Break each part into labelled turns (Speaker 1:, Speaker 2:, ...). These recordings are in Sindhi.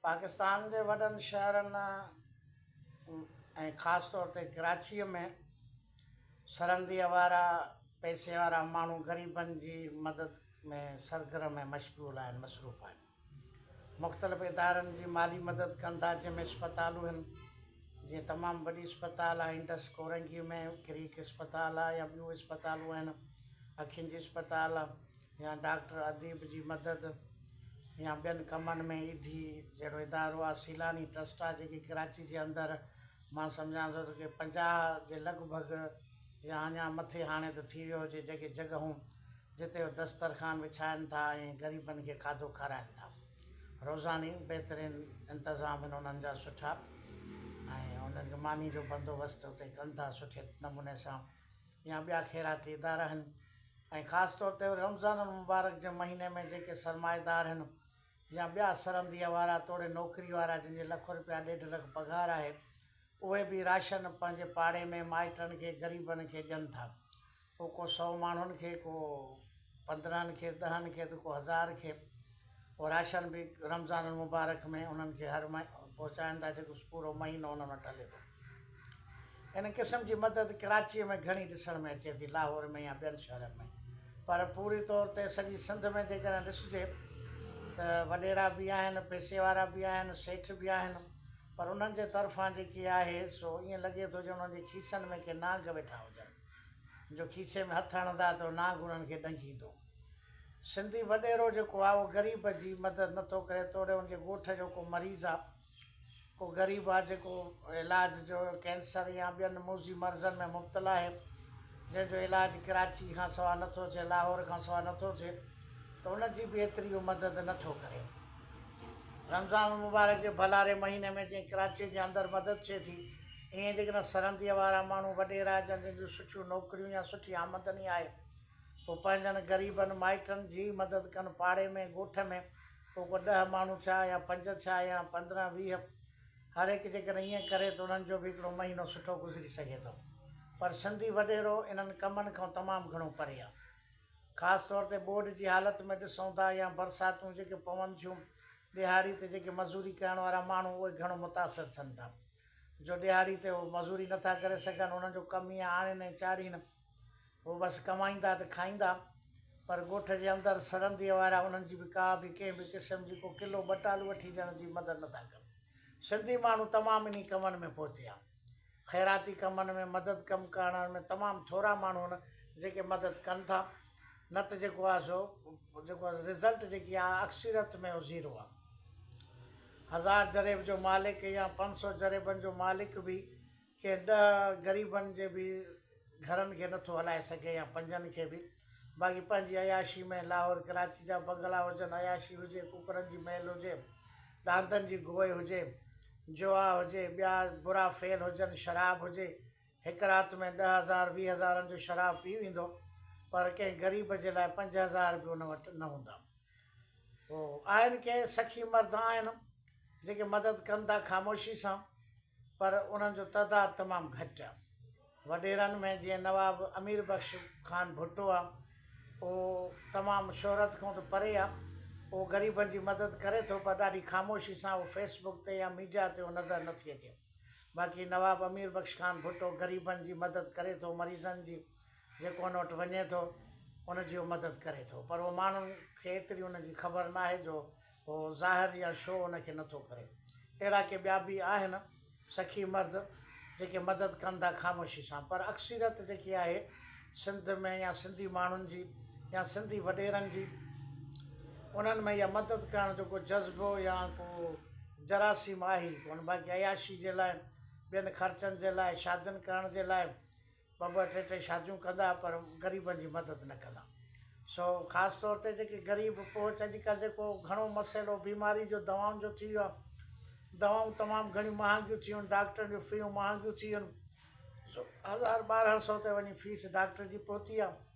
Speaker 1: پاڪستان جي وڏن شهرن ۽ خاص طور تي ڪراچيء ۾ سرهندي اوارا پئسي وارا ماڻهو غريبن جي مدد ۾ سرگرم ۽ مشغول آهن، مصروف آهن. مختلف ادارن جي مالي مدد ڪن ٿا، جنهن ۾ اسپتالون هن، جيئن تمام وڏي اسپتال آهي انڊس ڪورنگي ۾ ڪريڪ اسپتال آهي يا ٻيون اسپتالون آهن، اکين جي اسپتال، يا ڊاڪٽر اديب جي مدد يا ٻين ڪمن ۾ ايڌي جهڙو ادارو آهي سيلاني ٽرسٽ آهي جيڪي ڪراچي جي اندر مان سمجهان ٿو ته ڪي پنجاهه جي لڳ ڀڳ يا اڃان مٿي هاڻي ته ٿي ويو هجي جيڪي جڳهون جتي هو دسترخوان وڇائن ٿا ۽ غريبن کي کاڌو کارائن ٿا روزاني بهترين انتظام آهن انهن جا سٺا ۽ انهن کي ماني جو بندوبست اتي ڪن ٿا سٺي نموني سان يا ٻيا خيراتي ادارا هن ۽ خاص طور تي رمضان المبارڪ جي مهيني ۾ جيڪي سرمائيدار هن يا ٻيا سرنديء وارا توڙي نوڪري وارا جن جي لک روپيا ڏيڍ لک پگهار آهي اهي به راشن پنهنجي پاڙي ۾ مائٽن کي غريبن کي ڏين ٿا پوء ڪو سئو ماڻهن کي ڪو پندرهن کير ڏهن کير ته ڪو هزار کير او راشن به رمضان المبارڪ ۾ انهن کي هر مهي پهچائن ٿا جيڪو پورو مهينو انهن وٽ هلي ٿو ان قسم جي مدد ڪراچي ۾ گهڻي ڏسڻ ۾ اچي ٿي لاهور ۾ يا ٻين شهرن ۾ پر پوري طور تي سڄي سنڌ ۾ جيڪڏهن ڏسجي ته وڏيرا به آهن پيسي وارا به آهن سيٺ به آهن پر انهن جي طرفان جيڪي آهي سو ائين لڳي ٿو ڄڻ انهن جي کيسن ۾ ڪي نانگ ويٺا هجن جو کيسي ۾ هٿ هڻندا ته نانگ انهن کي ڏنگيندو. سنڌي وڏيرو جيڪو آ اهو غريب جي مدد نه ٿو ڪري توڙي ان جي ڳوٺ جو ڪو مريض آ ڪو غريب آ جيڪو علاج جو ڪينسر يا ٻين موذي مرضن ۾ مبتلا آهي جنهن جو علاج ڪراچي کان سوا نه ٿو ٿئي لاهور کان سوا نه ٿو ٿئي ته ان جي به ايتري اهو مدد نه ٿو ڪري. رمضان المبارڪ جي ڀلاري مهيني ۾ جنهن ڪراچي جي اندر مدد ٿئي ٿي. ايئن جيڪڏهن سرنديء وارا ماڻهو وڏيرا جن جن جون سٺيون نوڪريون يا سٺي آمدني آهي پوء پنهنجن غريبن مائٽن جي ئي مدد ڪن پاڙي ۾ ڳوٺ ۾ پوء ڪو ڏهه ماڻهو ٿيا يا پنج ٿيا يا پندرهن ويهه هر هڪ جيڪڏهن ايئن ڪري ته انهن جو به هڪڙو مهينو سٺو گذري سگهي ٿو پر سنڌي وڏيرو انهن ڪمن کان تمام گهڻو پري آهي خاص طور تي ٻوڏ جي حالت ۾ ڏسون ٿا يا برساتون جيڪي پون ٿيون ڏهاڙي تي جيڪي مزوري ڪرڻ وارا ماڻهو اهي گهڻو متاثر ٿين ٿا جو ڏهاڙي تي هو مزوري نه ٿا ڪري سگهن، انهن جو ڪم ئي آڻين ۽ چاڙهين. هو بس ڪمائيندا ته کائيندا، پر ڳوٺ جي اندر سرنديء وارا انهن جي به ڪا به ڪنهن به قسم جي ڪو ڪلو ٻه ٽالو وٺي ڏيڻ جي مدد نه ٿا ڪن. سنڌي ماڻهو تمام انهي ڪمن ۾ پوئتي آهن. خيراتي ڪمن ۾ مدد ڪم ڪرڻ ۾ تمام ٿورا ماڻهو آهن، جيڪي مدد ڪن ٿا. نه ته جيڪو آهي سو جيڪو آهي رزلٽ جيڪي آهي اڪثريت ۾ هو زيرو آهي هزار جريب جو مالڪ يا پنج سو جريبن جو مالڪ به ڪنهن ڏهه غريبن جي به گهرن کي نٿو هلائي سگهي يا پنجن کي به باقي پنهنجي عياشي ۾ لاهور ڪراچي جا بنگلا هجن عياشي هجي ڪڪڙن جي ميل هجي ڏاندن جي گوئي هجي جوا هجي ٻيا برا فعل هجن شراب هجي هڪ رات ۾ ڏهه هزار ويهه هزارن جو شراب پي ويندو پر ڪنهن غريب جي لاء پنج هزار به ان وٽ نه هوندا. هو آهن ڪي سخي مرد آهن جيڪي مدد ڪن ٿا خاموشي سان پر انهن جو تعداد تمام گهٽ آ. وڏيرن ۾ جيئن نواب امير بخش خان ڀٽو آ اهو تمام شهرت کان ته پري آ اهو غريبن جي مدد ڪري ٿو پر ڏاڍي خاموشي سان اهو فيس بڪ تي يا ميڊيا تي اهو نظر نٿي اچي. باقي نواب امير بخش خان ڀٽو غريبن جي مدد ڪري ٿو مريضن جي جيڪو ان وٽ وڃي ٿو ان جي هو مدد ڪري ٿو پر هو ماڻهن کي ايتري ان جي خبر نه آهي جو هو ظاهر يا شو ان کي نه ٿو ڪري اهڙا ڪي ٻيا به آهن سخي مرد جيڪي مدد ڪن ٿا خاموشي سان پر اڪثريت جيڪي آهي سنڌ ۾ يا سنڌي ماڻهن جي يا سنڌي وڏيرن جي انهن ۾ اها مدد ڪرڻ جو ڪو جذبو يا ڪو جراثيم آهي ئي ڪونه باقي عياشي جي لاء ٻين خرچن جي لاء شادين ڪرڻ جي لاء ٻه ٻه ٽي ٽي شاديون ڪندا پر غريبن جي مدد نه ڪندا سو خاص طور تي جيڪي غريب پهچ اڄ ڪلهه جيڪو گهڻو مسئلو بيماري جو دوائن جو ٿي ويو آهي دوائون تمام گهڻيون مهانگيون ٿي ويون آهن ڊاڪٽرن جون فيون مهانگيون ٿي ويون آهن سو هزار ٻارهن سو تي وڃي فيس ڊاڪٽر جي پهتي آهي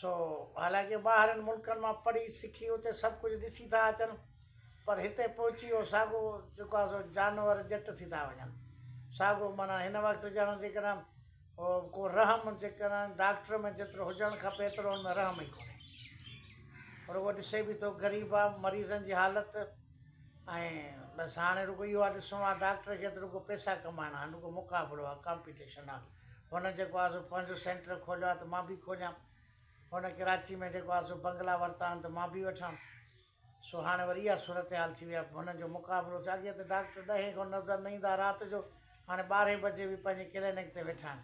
Speaker 1: سو حالانڪه ٻاهرن ملڪن مان پڙهي سکي اتي سڀ ڪجهه ڏسي ٿا اچن پر هتي پهچي اهو ساڳو جيڪو آهي سو جانور ڄٽ ٿي ٿا وڃن ساڳو معنيٰ هن وقت ڄڻ جيڪڏهن هو ڪو رحم جيڪڏهن ڊاڪٽر ۾ جيترو هجڻ کپي ايترو ان ۾ رحم ئي ڪونهي پر هو ڏسي به ٿو غريب آ مريضن جي حالت ۽ بس هاڻي رڳو اهو آ ڏسڻو آ ڊاڪٽر کي ته رڳو پئسا ڪمائڻا آهن رڳو مقابلو آ ڪامپيٽيشن آ هن جيڪو آهي سو پنهنجو سينٽر کوليو آهي ته مان به کوليان هن ڪراچي ۾ جيڪو آهي سو بنگلا ورتا آهن ته مان به وٺان سو هاڻي وري اها صورتحال ٿي وئي آهي هنن جو مقابلو ٿيو اڳي ته ڊاڪٽر ڏهين کان نظر نه ايندا رات جو هاڻي ٻارهين بجي به پنهنجي ڪلينڪ تي ويٺا آهن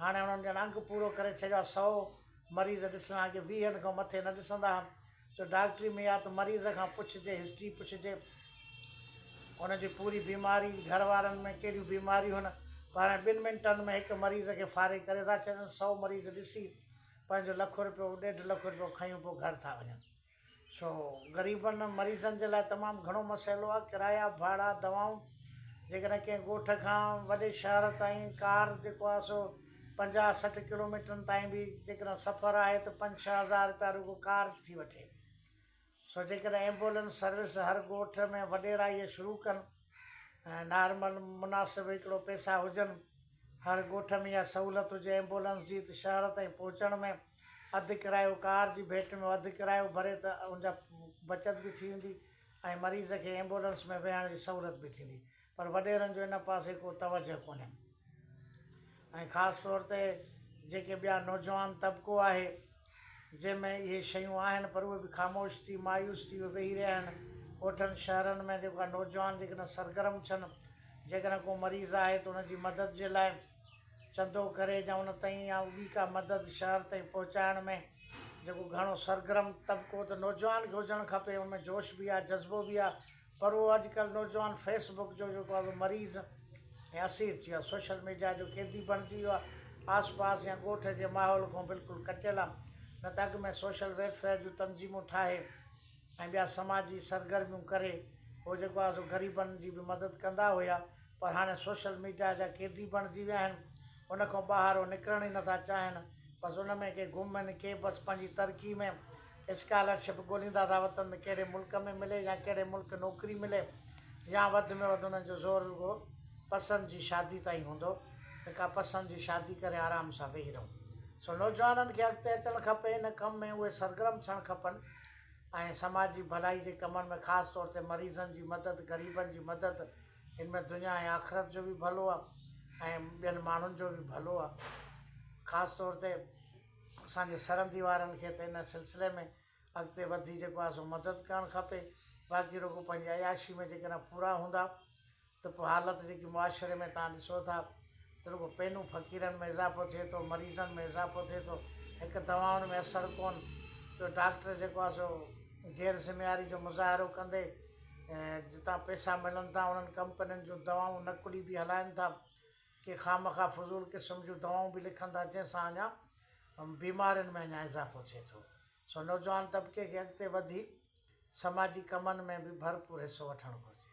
Speaker 1: هاڻي هنن ڄڻ انگ پورو ڪري ڇڏيو آهي سؤ مريض ڏسڻا اڳي ويهن کان مٿي نه ڏسندا هئا جو ڊاڪٽري ۾ يا ته مريض کان پڇجي هسٽري پڇجي ان جي پوري بيماري گهر وارن ۾ ڪهڙيون بيماريون آهن پاڻ ٻن منٽن ۾ هڪ مريض کي فارغ ڪري ٿا ڇڏن سو مريض ڏسي پنهنجو لک رپيو ڏيڍ لک رپيو کيون پوء گهر ٿا وڃن سو غريبن مريضن جي لاء تمام گهڻو مسئلو آهي ڪرايا ڀاڙا دوائون جيڪڏهن ڪنهن ڳوٺ کان وڏي شهر تائين ڪار جيڪو آهي سو پنجاهه سٺ ڪلوميٽرن تائين به جيڪڏهن سفر آهي ته پنج ڇهه هزار رپيا رڳو ڪار ٿي وٺي سو جيڪڏهن ايمبولينس سروس هر ڳوٺ ۾ وڏيرائيء شروع ڪن ۽ نارمل مناسب هڪڙو پئسا هجن هر ڳوٺ ۾ اها سهولت هجي ايمبولينس جي ته شهر تائين پهچڻ ۾ اڌ ڪرايو ڪار جي ڀيٽ ۾ اڌ ڪرايو ڀري ته ان جا بچت به ٿي ويندي ۽ مريض کي ايمبولينس ۾ ويهڻ جي سهولت به ٿيندي پر وڏيرن جو ان پاسي ڪو توجهه ڪونهي ۽ خاص طور تي جيڪي ٻيا نوجوان طبقو آهي جنهن ۾ اهي شيون آهن پر اهي به خاموش ٿي مايوس ٿي اهي ويهي رهيا آهن ڳوٺن شهرن ۾ جيڪا نوجوان جيڪڏهن سرگرم ڇن جيڪڏهن ڪو مريض آهي ته ان جي مدد جي لاء چندو ڪري جا ان تائين يا ٻي ڪا مدد شهر تائين پهچائڻ ۾ جيڪو گهڻو سرگرم طبقو ته نوجوان کي هجڻ کپي ان ۾ جوش به آهي جذبو به آهي پر اهو اڄ ڪلهه نوجوان فيس بڪ جو جيڪو آهي سو مريض ۽ اسير ٿي ويو آهي سوشل ميڊيا جو قيدي بڻجي ويو آهي آس پاس يا ڳوٺ جي ماحول کان بلڪل ڪٽيل آهي نه ته اڳ ۾ سوشل ويلفيئر جون تنظيمون ٺاهي ۽ ٻيا سماجي سرگرميون ڪري هو جيڪو آهي سو غريبن جي به مدد ڪندا هيا پر هاڻي سوشل ميڊيا جا قيدي بڻجي ويا آهن ان کان ٻاهر هو نڪرڻ ئي نٿا چاهين بس ان ۾ ڪي گم آهن ڪي بس پنهنجي ترقي ۾ اسڪالر شپ ڳوليندا ٿا وتن ته ڪهڙي ملڪ ۾ ملي يا ڪهڙي ملڪ نوڪري ملي يا وڌ ۾ وڌ انهن جو زور رڳو پسند جي شادي تائين هوندو ته ڪا پسند جي شادي ڪري آرام سان ويهي رهون سو نوجوانن کي اڳتي اچڻ کپي ان ڪم ۾ اهي سرگرم ٿيڻ کپن ۽ سماجي ڀلائي جي ڪمن ۾ خاص طور تي مريضن جي مدد غريبن جي مدد ان ۾ دنيا ۽ آخرت جو به ڀلو آهي ۽ ٻين ماڻهن جو به ڀلو آهي خاص طور تي اسان جي سرحدي وارن کي ته ان سلسلي ۾ اڳتي وڌي جيڪو آهي سو مدد ڪرڻ کپي باقي رڳو پنهنجي عياشي ۾ جيڪڏهن پورا هوندا ته پوء حالت جيڪي معاشري ۾ توهان ڏسو ٿا ته رڳو پينون فقيرن ۾ اضافو ٿئي ٿو مريضن ۾ اضافو ٿئي ٿو هڪ دوائن ۾ اثر ڪون ٻيو ڊاڪٽر جيڪو آهي سو غير ذميواري جو مظاهرو ڪندي جتان پئسا ملن ٿا انهن ڪمپنين جون دوائون نقلي به هلائن ٿا ڪي خامخواه فضول قسم جون دوائون به لکن ٿا جنهن سان اڃا بيمارين ۾ اڃا اضافو ٿئي ٿو سو نوجوان طبقي کي اڳتي وڌي سماجي ڪمن ۾ به ڀرپور حصو وٺڻ گهرجي.